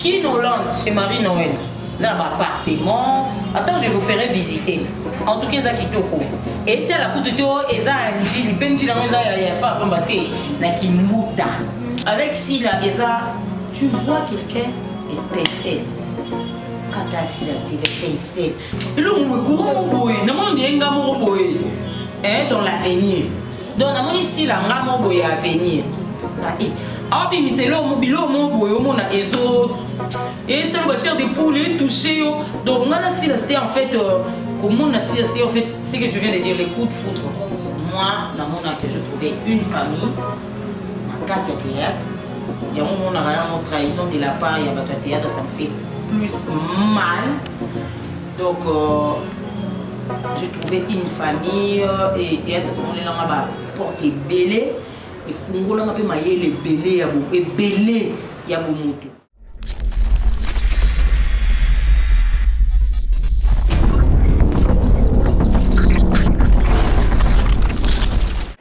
Kin Hollande chez Marie Noël. Là bas appartement. Attends, je vous ferai visiter. En tout cas, eza kitoko. Et la kutu to eza njili, pe njili yango eza ya ya pa pamba te na kimbuta. Avec Sila eza tu vois quelqu'un étincelle. Quand t'as Sila, t'étincelle. elongo boye courant moko boye namoni ondire nga moko boye eh, dans l'avenir donc namoni sila nga moko boye ya avenir eh, aobimisa eloko biloko moko boye omona ezo esala ba chair de poule etouche yo donc nga na sila ste en fait euh, komona sila ste en fait ce que tu viens de dire les coups de foudre moi namona que je trouvais une famille na kati ya théâtre yango omonaka yango trahison de la part ya bato ya théâtre ça me fait plus mal donc euh, j'ai trouvé une famille euh, et théâtre efongolinanga ba porte ebele efungolanga mpe mayele ebele ya ebele ya bomoto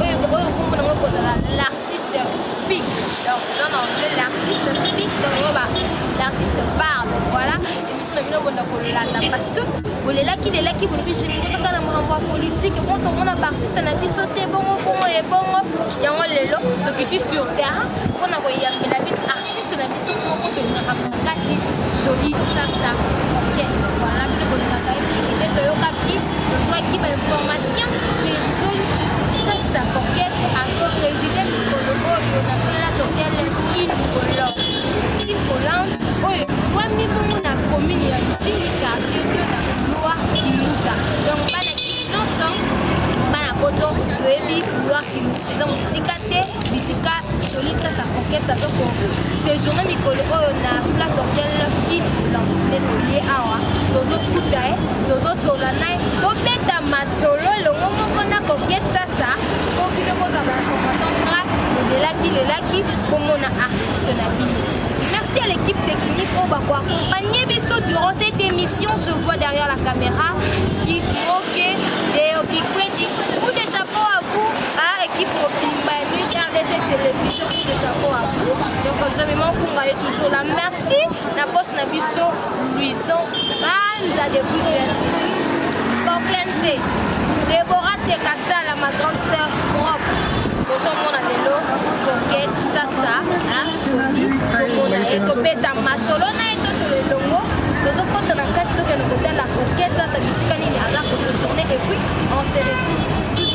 Oyo oyo kombo nango kozala l'artiste speak. Donc eza na anglais l'artiste speak donc yango ba l'artiste parle. Voilà. Emission na bino bonda kolanda parce que bolelaki lelaki bolobi je bikosaka na makambo ya politique bon tomona baartiste na biso te bongo bongo ebongo yango lelo tokiti sur terrain mpo na koyambela bino artiste na biso moko tolingaka makasi joli sasa kokene voilà nde tolingaka ye mingi nde toyokaki tozwaki bainformation ke joli sasa kokene azopreside mikolo oyo na plato tele kin hollande kin hollande oyo ezwami bongo na commune ya jini quartier de la gloire kimuta donc bana nyonso bana poto toyebi gloire kimuta eza mosika te bisika jolie sasa coquette aza ko sejourne mikolo oyo na plat hotel kin olance nde toye awa tozokuta ye tozosola na ye tobeta masolo elongo moko na coquette sasa mpo bino kozwa bainformation tra odelaki lelaki komona artiste na bino merci à l'équipe technique oyo bakoaccompagne biso durant cette émission je vois derrière la caméra kimoke deokikwedi ou déjà po à vous Ah, équipe mobimba ya News RDC Télévision, coup de chapeau à vous. Donc, je vais m'en est toujours là. Merci. La poste na biso, Louison, Banza de Merci. Boclenze, Déborah Tekasala, ma grande sœur, propre. tozomona lelo coquete sasa soni tomona ye tobeta masolo na ye tosolo elongo tozokota na kati tokende kotala coquete sasa bisika nini aza kosojourne epuis on se retrouve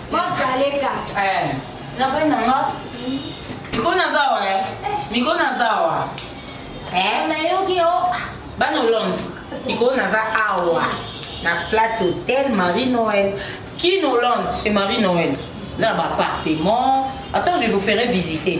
Eh, na bai na nga miko naza wa eh. miko naza wa eh. nayoki yo bana olonde miko naza awa na flat hotel marie noël kin hollande chez marie noël eza na baappartement attends je vous ferai visiter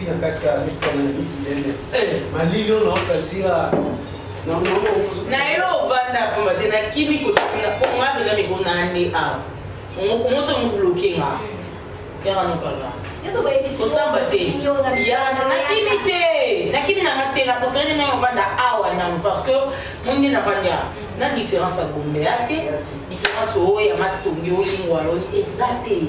epi na kati ya mitika na miki ndene eh. malili oyo naosatira naye ovanda pamba te nakimi kotakina po nga mpenza mikona nde awa omozo mobloke nga yaka nokanga osamba te nakimi te nakimi nanga te na profere naye ovanda awa nanu parce que mondi navandi awa mm. na différence ya gombe ya te différence oyo ya matongi olingwaloni eza te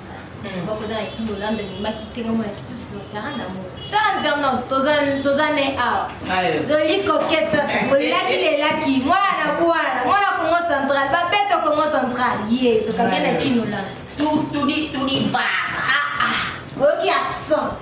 moko eza na kino olanda ememaki te ngambo na kitu silotara na mo charles bernard toza ne awa zoli kokete sasa olelaki lelaki mwana na bwana mwana congo central babeto congo central ye tokange na kino olanda tudivara oyoki accent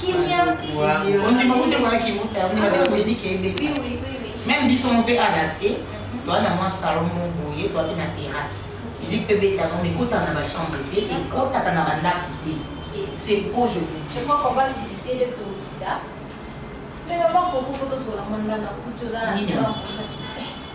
kimia ondima kute kwa kiuta ondima te muziki ebeta meme biso mpe adase mhm. toa na mwa salon mo boye toa mpe na terrasse miziki mpe beta no ekotaka na bachambre te ekotaka na bandako te c'est po je vous dis je crois qu'on va visiter le tokita mais maman koko fotosola mwana na kutu oza na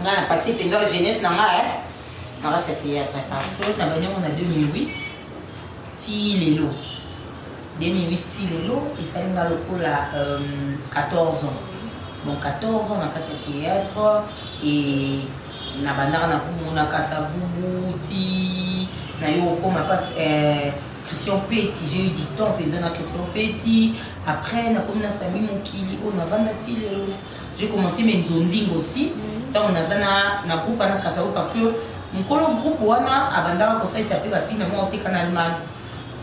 nga na pasi mpenza jeunesse na nga eh. na kati ya théâtre partout na banyango na 2008 ti lelo 2008 ti lelo esali nga lokola 14 euh, ans bon 14 ans na kati ya théâtre e na bandaka na komonaka savubu ti na yo okoma mpasi eh, christian peti j'ai eu du temps mpenza na christian peti après nakomi na sami mokili oyo navanda ti lelo J'ai commencé mes nzonzingo aussi ntango naza na na groupe wana kasao parce que mokolo groupe wana abandaka kosalisa mpe bafilme moko oteka na allemagne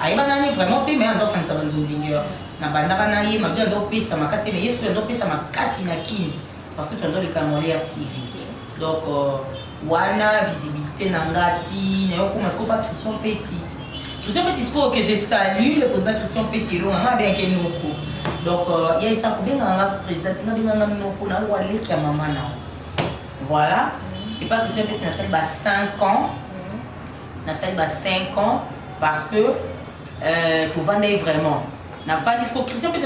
ayebana nani vraiment te mais andosangisa banzonzingeur nabandaka na ye mabe andopesa makasi te mais ye soki andopesa makasi na kine parce que tondoleka moleya tv donc euh, Wana visibilité na nga ti na yo koma sikoyo pa Christian Petit. Christian Petit sikoyo que je salue le président Christian Petit elonga nga bien ke noko. Donc euh, ya isa kobenga nga président nga benga nga noko na wa leki ya mama na. Voilà. Et pas Christian Petit na sali ba 5 ans. Na sali ba 5 ans parce que euh, tovandai vraiment. Na pas disco Christian Petit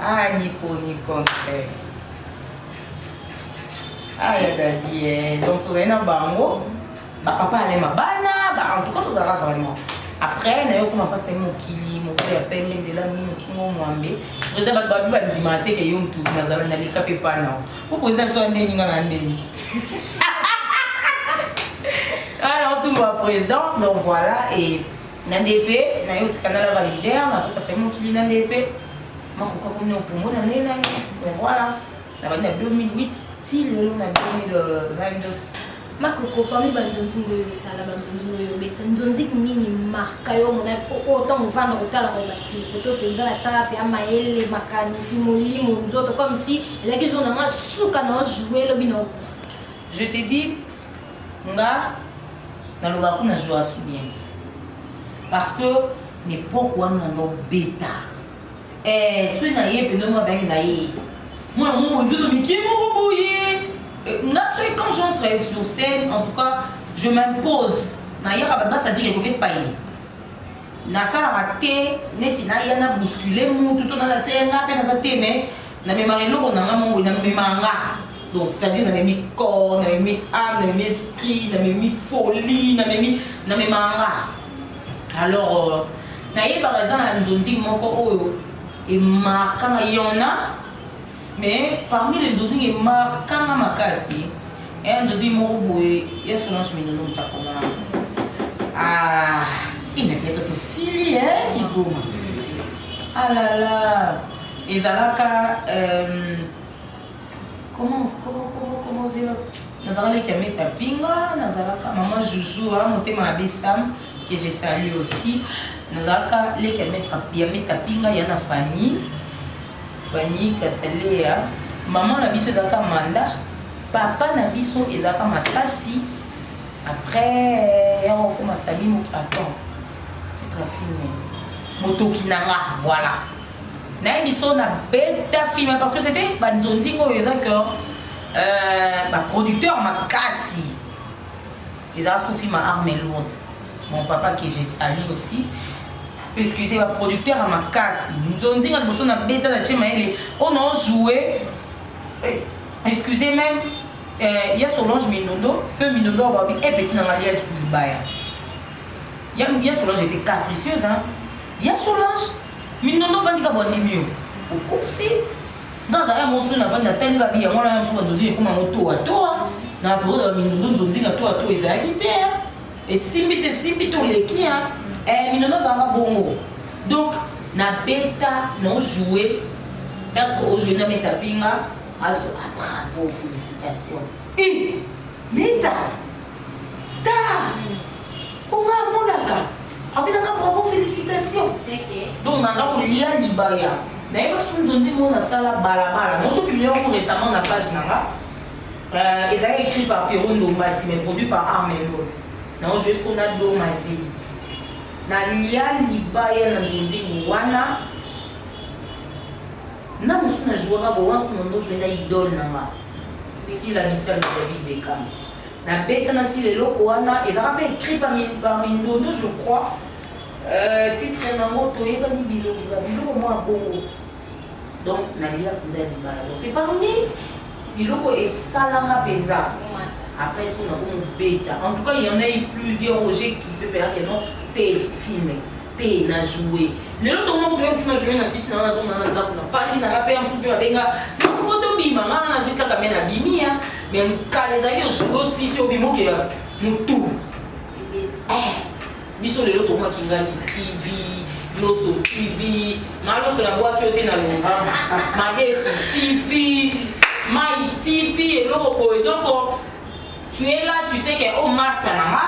Ah, Nico, Nico, eh. Ah, ya dadi, eh. Donc, tozali na bango. Bapapa alema bana, ba, en tout cas, tozalaka vraiment. Après, nayo koma mpasi mokili, mokili ya pembe, nzela mingi, mokili ngo mwambe. Président bato babi bandima te ke yo mutu nazala na leka mpe epai nao. Po président biso andeni nga na ndeni. Ah, naotumba président, donc voilà, et Na ndepe na yo tika na la validere na koka sai mokili na ndepe makoka komi na opongo na nene na ye bon voilà na bandi na 2008 ti lelo na 2022 makoko parmi banzonzi ngo oyo osala banzonzi ngo oyo obeta nzonzi nini marka yo omona oyo ntango ovanda kotalaka obati koto mpenza na tyaka mpe amayele makanisi molimo nzoto comme si elaki jour na nga suka na ojoue lobi na okufa je te dis Nga nalobaka kuna Joasu bien te parce que na epoque wana na ndo beta eh, soki na ye pende mwa bangi na ye mwana moko nzoto mike moko boye nga soki quand j'entre sur scène en tout cas je m'impose nayaka bato basadire ekoki epai nasalaka te neti naya na bouscule mutu to nalakisa ye nga mpe naza te mais namemaka eloko na nga mongo namemaka nga donc c'est-à-dire namemi corps namemi âme namemi esprit namemi folie namemi namemaka nga alors euh, nayebaka eza na nzonzing moko oyo emarkanga yona mais parmi les nzonzing emarkanga makasi eya nzonzing moko boye ya solange mindono motakoma ah inateka tosili e kikoma alala ah ezalaka euh, comment comment comment comment zela nazalaka leki ya meta pinga nazalaka maman joujou hein, motema na besam que je salue aussi nazalaka leki ya meta pinga ya na fanny fanny katalea maman na biso ezalaka manda papa na biso ezalaka masasi après yango okoma sami moto attend titre filme motoki na nga voilà naye biso na beta film parce que c'était ba nzonzi oyo eza que euh, ba producteur makasi eza sous film arme lourde mon papa que je salue aussi excusez ba producteur ya makasi nzonzi nga liboso na beta na tie mayele oyo oh nao joue eh, excusez même euh, ya solange mindondo feu mindondo ababi epeti na ngaliel libaya ya solange était capricieuse hein? ya solange Mindondo ofandi kaka bwandimi yo. Okosi. Nga azala yango mosusu nafandi natali kaka biya mwana ya mosusu banzonzi ekoma yango toa toa. Na periode ya mindondo nzonzi na toa toa ezalaki te. Esimbi te esimbi te oleki. Eh, mindondo azalaka bongo. Donc, na beta, na ojoue. Taso ojoue na meta pinga. Abiso, ah bravo, félicitations. Eh, meta! Star! Po nga amonaka abetaka bravo felicitation donc nanga kolia libaya nayeba sunzo nzembo oyo nasala balabala naoto publie yango récemment na page na nga euh, ezalaki écrit par pierro ndombasi mais produit par armelo nao joues mpo na do mazeli nalia libaya na nzonzembo wana na mosusu na jouaka bowanso mondo joue na idole na nga sila misala david bekam Na beta na sila eloko wana ezaka pe écrit par par mindondo je crois euh, titre nango toyebani bilongi ba biloko mwa bongo donc nalia mpenza libala donc c'est parmi biloko esalanga mpenza après ce qu'on a comme beta en tout cas il y en a eu plusieurs où j'ai kiffé mais que non tel film te na joue lelo tokoma kotoya mosu na joue na sisi nanga nazonga na ndako na fandi nanga mpe ya mosu mpe babenga moko tobima ngaa nazwisaka me na bimi ya me kala ezalaki ojoue osisi obimoke ya motu ah, biso lelo tokoma kingadi tv loso tv maloso na bwaki yo te na longa madesu tv mai tv eloko boye donko tu es là tu sais que o oh, masta na nga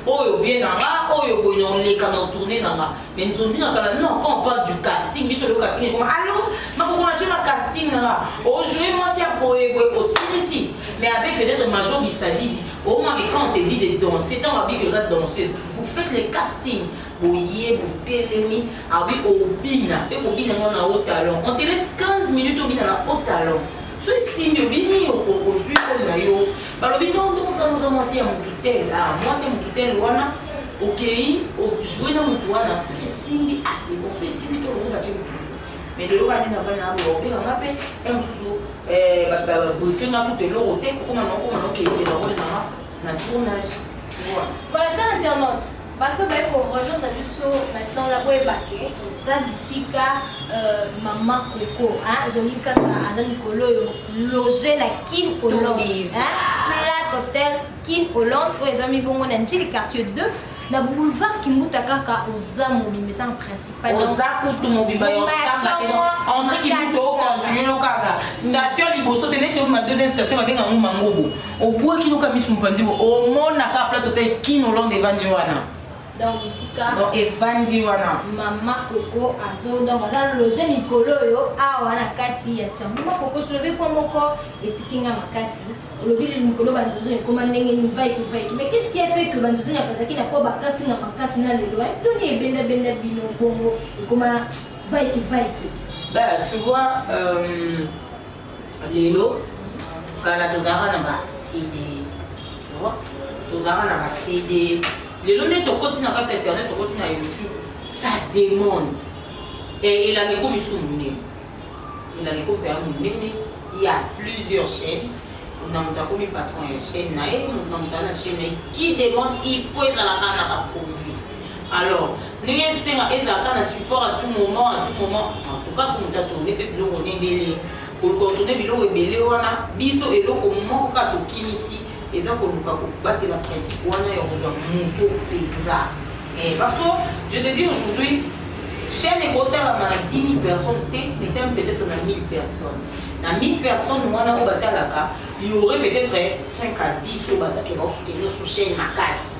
oyo vie na nga oyo boye na oleka na tourne na nga mais nzonzi na kala non quand on parle du casting biso le casting ekoma allo makokona tye ma casting na nga ojoue mwasi ya boye boye osilisi mais avec peut-être major bisadidi omaki oh, quand te dit de danser ntango abiki oza danseuse vous faites le casting boye botelemi abi obina mpe kobina ngo na haut talon on te laisse 15 minutes obina na haut talon Soki simbi obini yo ozwi koli na yo balobi no nde ozana oza mwasi ya motu tel a ah, mwasi ya motu tel wana okei ojoue na motu wana soki esimbi asebo ah, soki esimbi te olongo batye motu mosusu mais lelo kaka nde navai na boya obenga nga mpe ya mosusu eh, babrife nga kutu eloko te kokoma na okoma na okei eloko nanga na tournage voilà cher internaute Bato baye ko rejoindre biso maintenant la boyeba ke toza bisika euh, mama koko ezongi sasa aza mikolo oyo loge na kin hollande flat hotel kin hollande oyo eza mibongo na njili quartier 2 na boulevard kimbuta kaka oza mobimba eza na principal oza kutu mobimba ya osamba te andre kimbuta okontinue kaka station liboso te neti obima deuxième station babenga yango mangobo Obwaki no ka misu mpanzi bo omona ka plateau te kin Hollande evandi wana. donc bisika donc evandi wana mama koko azo donc aza loge mikolo oyo awa na kati ya chambo mama koko solobi po moko etiki nga makasi olobi mikolo banzuzuni ekoma ndenge nini vaiki vaiki mais qu'est-ce qui a fait que banzuzuni akazaki na po bakasi nga makasi na lelo doni ebendabenda bino bongo ekoma vaiki vaiki bah tu vois euh, lelo kala tozalaka na ba cd tozalaka na ba cd lelo nde tokoti na kati ya internet tokoti na youtube ça demande elanga ekomi su monene elanga ekomi mpenza monene il y a plusieurs chaînes na moto akomi patron ya chaîne na ye moto na moto aza na chaîne na ye qui demande il faut ezalaka na baproduit Alors ndenge esenga ezala kaka na support à tout moment à tout moment en tout cas faut moto atourne mpe biloko na ebele koluka kotourne biloko ebele wana biso eloko moko kaka tokimisi eza koluka kobatela principe wana ya kozwa moto mpenza eh, parce que je te dis aujourd'hui chaîne ekotalama na 10 000 personnes te metami peut-être na 1000 personnes na 1000 personnes wana oyo batalaka y aurait peut-être 5 à 10 oyo bazakela osoutenir sous chaîne makasi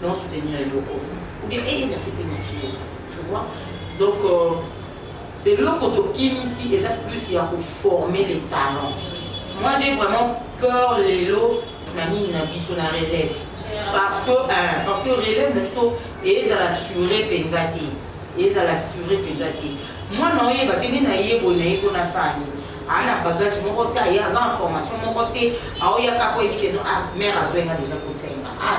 Non soutenir eloko. Ou bien eh na sepeli na fille. Tu vois? Donc euh, eloko tokimisi eza plus ya koformer les talents moi j'ai vraiment peur lelo na nini na biso na relève parce que euh, parce que relève na biso ezala sure mpenza te ezala sure mpenza te mwana oyeba te nde nayeboi na ye mpo nasala nini aa na bagage moko te aye aza na formation moko te aoyaka mpo eyebi keno a ah, mare azwenga deja kosenga a ah,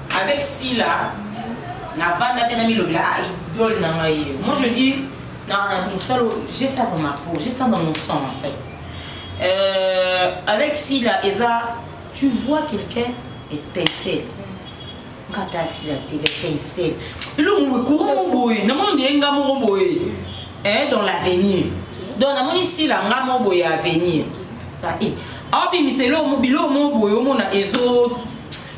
Avec Sila, na vanda te na milobela a ah, idole na ngai ye. Moi je dis na musalo j'ai ça dans ma peau, j'ai ça dans mon sang en fait. Euh, avec Sila eza tu vois quelqu'un étincelle. Nkata Sila te étincelle. Elongo boye courant moko boye, na moni ndenge nga moko boye. Eh dans l'avenir. Donc na moni Sila nga moko boye avenir. Ah, eh. Awa bimiselo mo bilo mo boye omona ezo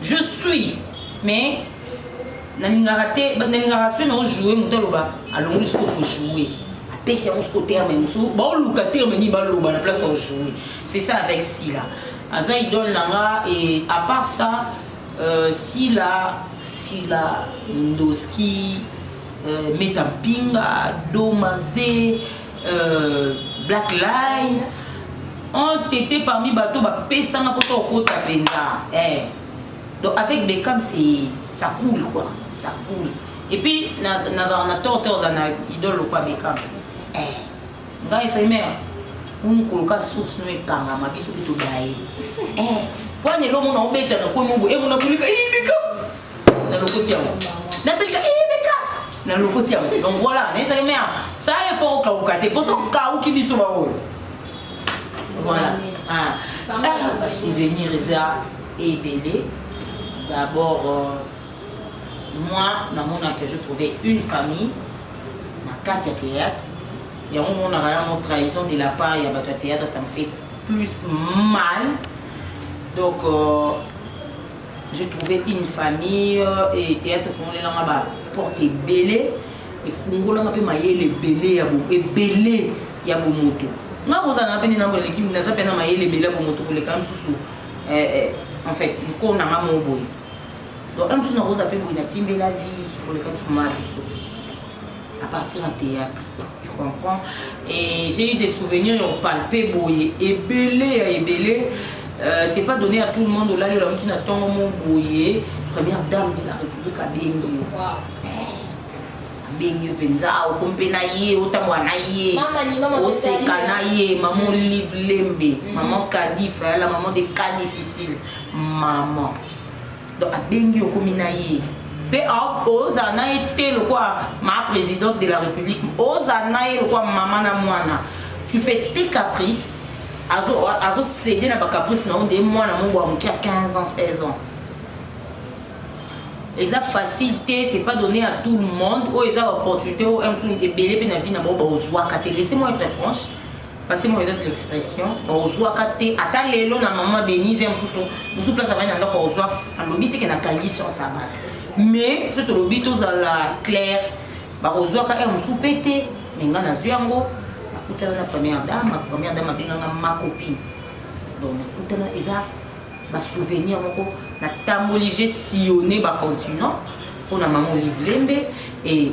Je suis mais nalingaka te nalingaka soki nao joue moto aloba alongoli soki oko joue apesi yango soki terme mosusu baoluka terme nini baloba na place ao joue c'est ça avec sila aza idole na nga et à part ça euh, sila sila mindoski euh, meta mpinga domaze euh, black line on tete parmi bato bapesanga mposa okota mpenza eh. donc avec becam c'est ça coule quoi ça coule et puis nazala na tort te ozala na idole lokwa becam eh. ngai esali mare mokolo ka source no ekangama biso mpe tobaye eh. mpo wana elo mona obeta na kwe mobo emona eh, bolika ibika eh, na lokoti yango natalika na lokoti yango donc voilà nayesaki mea sa effort okauka te mpo so okauki biso baoyo voilà basouvenir eza ebele d'abord euh, moi namonaka je trouvais une famille na kati ya théâtre yango omonaka yango trahison de la part ya bato ya théâtre ça me fait plus mal donc euh, J'ai trouvé une famille et théâtre fongolela nga ba porte ebele efungola nga pe mayele ebele ya bo ebele ya bomoto nga kozala na pe nina eleki naza pe na mayele ebele ya bomoto koleka mosusu eh, eh, en fait nko na nga moko boye donc un mosusu nakozala pe boye natimbela vie koleka mosusu ma biso à partir ya théâtre tu comprends et j'ai eu des souvenirs ya opalpe boye ebele ya ebele euh, c'est pas donné à tout le monde olali olamuki na ntongo mo boye première dame de la république abengi yo abengi yo mpenza okomi mpe na ye otambola na ye oseka na ye maman olive lembe maman kadif ayala maman de cas difficile maman donc abengi okomi na ye mpe ozala na ye te lokola ma présidente de la république ozala na ye lokola mama na mwana tu fais tes caprices azosede na bacaprice na yo nde mwana mongo ya moke ya 15 ans 16 ans eza facile te c'est pas donné à tout le monde oyo eza baopportunité oyo msuni ebele mpe na vie na bango baozwaka te laisse moi être franche Passez moi de l'expression, ozwa ka te ata lelo na maman Denise ya mususu mususu place avani na ndako ozwa alobi te ke na kangi chance ya bato mais soki tolobi tozala clair bakozwa ka ya mususu pe te mais ngai nazwi yango nakutana na première dame ma première dame abenganga ma copine donc nakutana eza basouvenir moko natamboli je sillonne bacontinent mpo na mama olive lembe e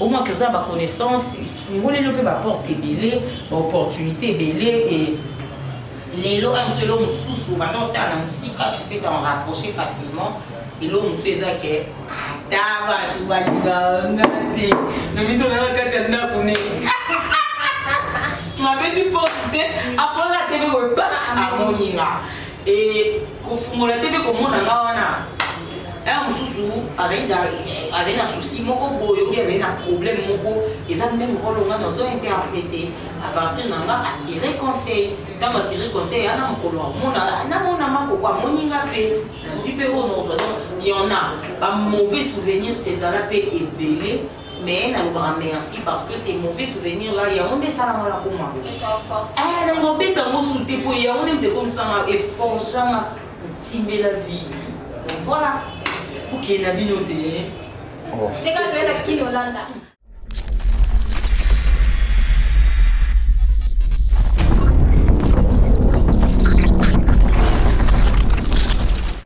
Omaki oza na ba connaissance efungoli yo mpe ba porte ebele ba opportunité ebele e lelo oyo mosusu eloko mosusu obanda otala na mosika tu peux t'en rapprocher facilement eloko mosusu eza ke ata bato balingaka nga te nomitona na kati ya ndako ne mabeti porte te aponaka te mpe boye ba amoninga e kofungola te mpe komona nga wana ere mosusu azali na souci moko boye oyo azali na problème moko eza meme role nga nazo interprete à partir na nga atire conseil ntango atire conseil ya na mokolo amona namona makoko amoni nga mpe nazwi mpe oyo nozwa donc y'en a ba mauvais souvenir ezala mpe ebele mais nalobaka merci parce que c'est mauvais souvenir là yango nde esalanga na koma eh, na mobeta yango sute mpo yango nde moto ekomisanga eforganga otimbela vie donc voilà okende na bino te oh. teka toyenda kino olanda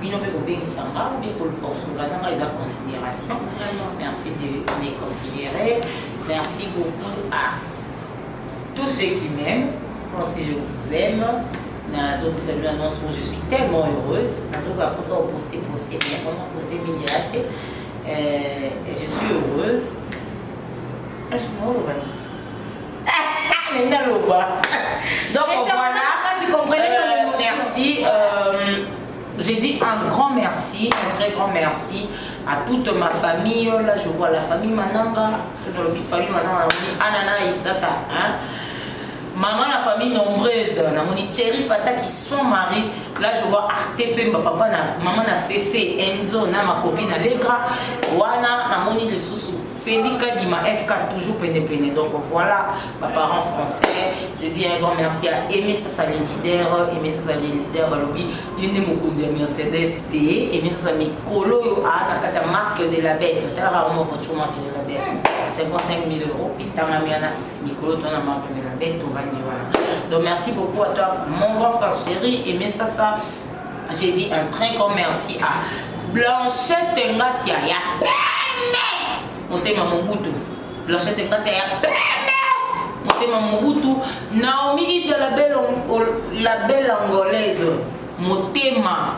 bino mpe kobengisa nga mpe koluka kosunga na nga eza considération merci de me considérer merci beaucoup à tous ceux qui m'aiment moi aussi je vous aime nazopesa bino annonce oyo je suis tellement heureuse nazokoka mposa oposte poste mais vraiment poste mingi ya te je suis heureuse eh, naoloba nini toute ma famille oh là je vois la famille mananga soki olobi famille mananga namoni ana na isaka hein? maman la famille nombreuse namoni cheri fata qui son mari là je vois arte pemba papa na maman na fefe enzo na makopi na legra wana namoni lisusu Feli Kadima FK toujours pene pene donc voilà ba parents français je dis un grand merci à Aimé Sasa les leaders Aimé Sasa les leaders balobi ye nde mokonzi ya Mercedes te Aimé Sasa mikolo oyo aa na kati ya marque de la bête otalaka yango voiture marque de la bête 55 000 euros etangami wana mikolo to na marque de la bête tovandi wana donc merci beaucoup à toi mon grand frère chéri Aimé Sasa J'ai dit un très grand merci à Blanchette Ngasia ya pembe motema mobutu Blanchette Ngasia ya pembe motema mobutu Naomi de la belle la belle angolaise motema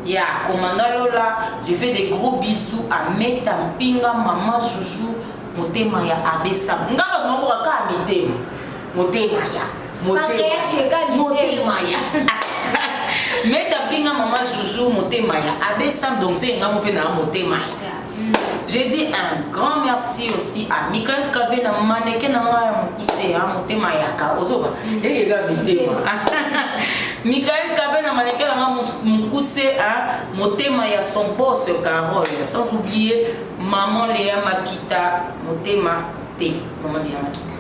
ya commandant Lola je fais des gros bisous à Meta Mpinga maman Joujou motema ya Abessa ngaba nombo ka mitema motema ya motema ya meta pinga mama zuzu motema ya abe sam donc se nga mope na motema ya je dis un grand merci aussi à michael kave na maneke na ngai ya mokuse ya motema yaka ozoba eyega mitema michael kave na maneke na ngai mokuse a motema ya son boss carole sans oublier maman lea makita motema te maman lea makita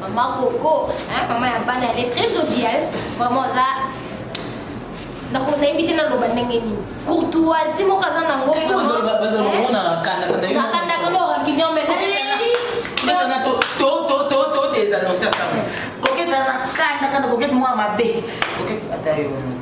Maman Coco, hein, maman ya bana, elle est très joviale. Vraiment, ça. Nako nayebi te naloba ndenge nini courtoisie moko aza nango kakanda kolo rampignon mais todesannonce ya sango koketana kanda kanda kokete mwa mabe kokete ata yo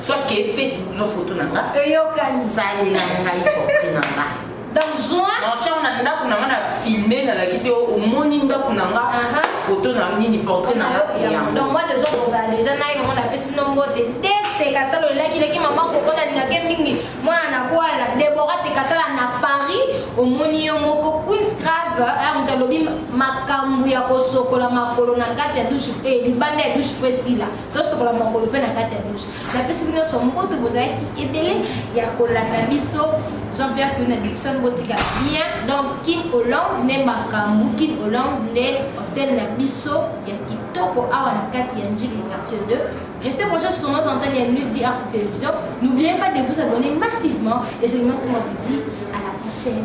soit que face no photo na nga eyokani sali na ngai portrait na nga donc joint donc tiango na ndako na nga na filme nalakisi yo omoni ndako na nga photo na nini portrait na nga donc moi de jour ozala déjà naye mama napesi bino mbote te tekasala olelaki leki mama koko nalingaki mingi mwana na kwala debora tekasala na paris omoni yo moko queens trave eh, moto alobi makambo ya kosokola makolo na kati ya douche eh, libanda ya douche fresila tosokola makolo mpe na kati ya dushe napesi bino nyonso mboto bozalaki ebele ya kolanda biso jean pierre kuna dixon botika bien donc kin hollande nde makambo kin hollande nde hotel na biso ya kitoko awa na kati ya njili quartier 2 Restez branchés sur nos antennes et News DRC Télévision. N'oubliez pas de vous abonner massivement et je vous dis à la prochaine.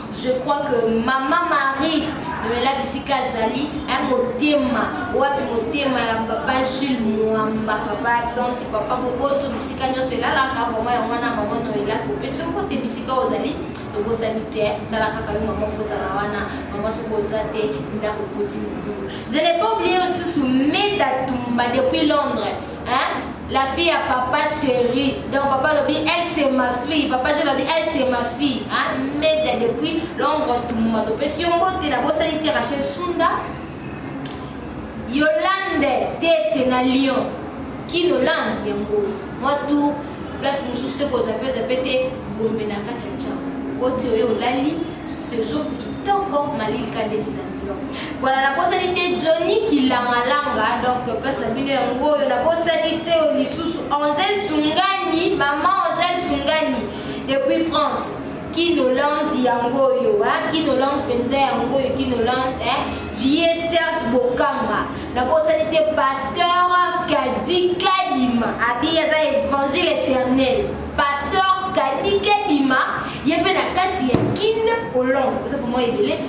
Je crois que Maman Marie lobela bisika azali ya motema wapi motema ya papa jules mwamba papa accente papa boboto bisika nyonso elalaka vraimen ya mwana mama noela topesi mpo te bisika ozali tobosani te tala kaka yo mama fozala wana mama soki oza te ndako koti mobulu je n'ai pas oublié osusu meda tumba depuis londres Hein? La fille à papa chéri. Donc papa lobi, elle c'est ma fille. Papa je lobi, elle c'est ma fille. Hein? Mais depuis l'ombre tout moment de pression, tu la bosse de Rachel Sunda. Yolande tete na Lyon. Qui Yolande yango? Moi tout place mosusu te kozape zape te gombe na kati ya ncango koti oyo olali sejour kitoko malilika ndeti na Voilà, la prochaine était Johnny qui l'a malanga, donc place la bino yango, la prochaine était au Lissous, Angèle Sungani, maman Angèle Sungani, depuis France. Kinoland yango yo, hein? Kinoland penza yango yo, Kinoland, hein? Vieux Serge Bokanga, la prochaine était pasteur Kadi Kadima, abi yaza évangile éternel, pasteur Kadi Kadima, yepena kati ya Kin Hollande, ça pour moi ebele.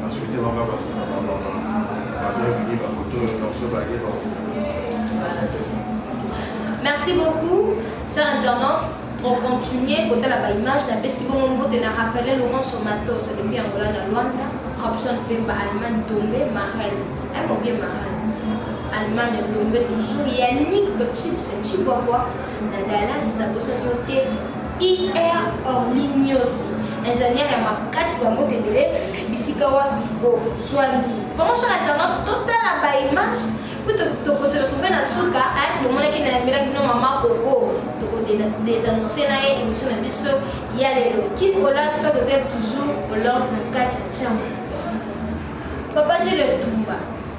Na souhaite banga bazo na ba mama ba bienvenue ba koto yo donc so ba ye ba se ba se pesa. Merci beaucoup, chers internautes. Donc, continuez, côté la image, la baisse, bon, on vote, la Raphaël Laurent Somato, c'est depuis Angola, la Luanda, Robson Pemba, Allemagne, tombé, Marel, un mauvais Marel, Allemagne, tombé, toujours, Yannick, Chips, Chihuahua, Na Dallas na bosani yo te IR Orly Niosi ingénieur ya makasi bango tendele bisika wapi bo swani vraiment chaka talent totala ba image po tokose retrouve na suka bomonaki na yambelaki bino mama koko tokodesanonce na ye émission na biso ya lelo kikola fa totel toujours olange na kati ya chambre papa gile tumba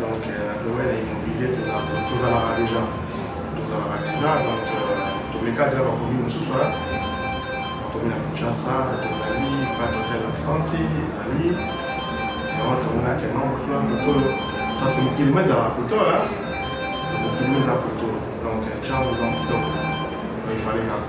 Donc euh, na domaine ya immobilier tozalaka deja tozalaka deja donc euh, tomeka deja bakomi mosusu wana bakomi na kinshasa tozali vatotel aksanti ezali yango tomonake nombre tuna mokolo parce que mokili mo ezalaka poto mokili mo eza poto donc ntango eza kitoko mais ifale kaka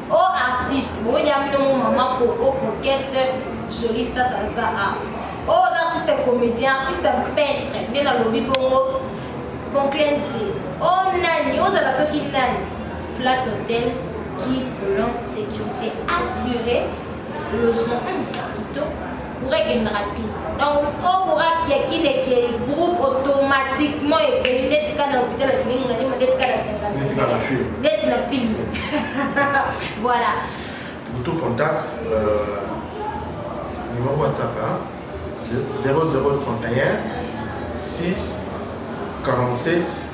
Oh artiste, boye ya bino mo maman coco coquette jolie ça ça ça ah. Oh artiste comédien, artiste peintre, nde nalobi bongo conclense. Oh nani, ozala soki nani. Flat Hotel qui plan sécurité assurée, logement kitoko. Courant ekendaka te. Donc, o courant ya kin ekei, groupe automatiquement ekei, ndeti kaka na hôpital ya Kilingi na Lima, ndeti kaka na Singapore. Ndeti kaka na film. Ndeti na film. Voilà. Pour tout contact, euh, numéro WhatsApp, hein, 0031 6 47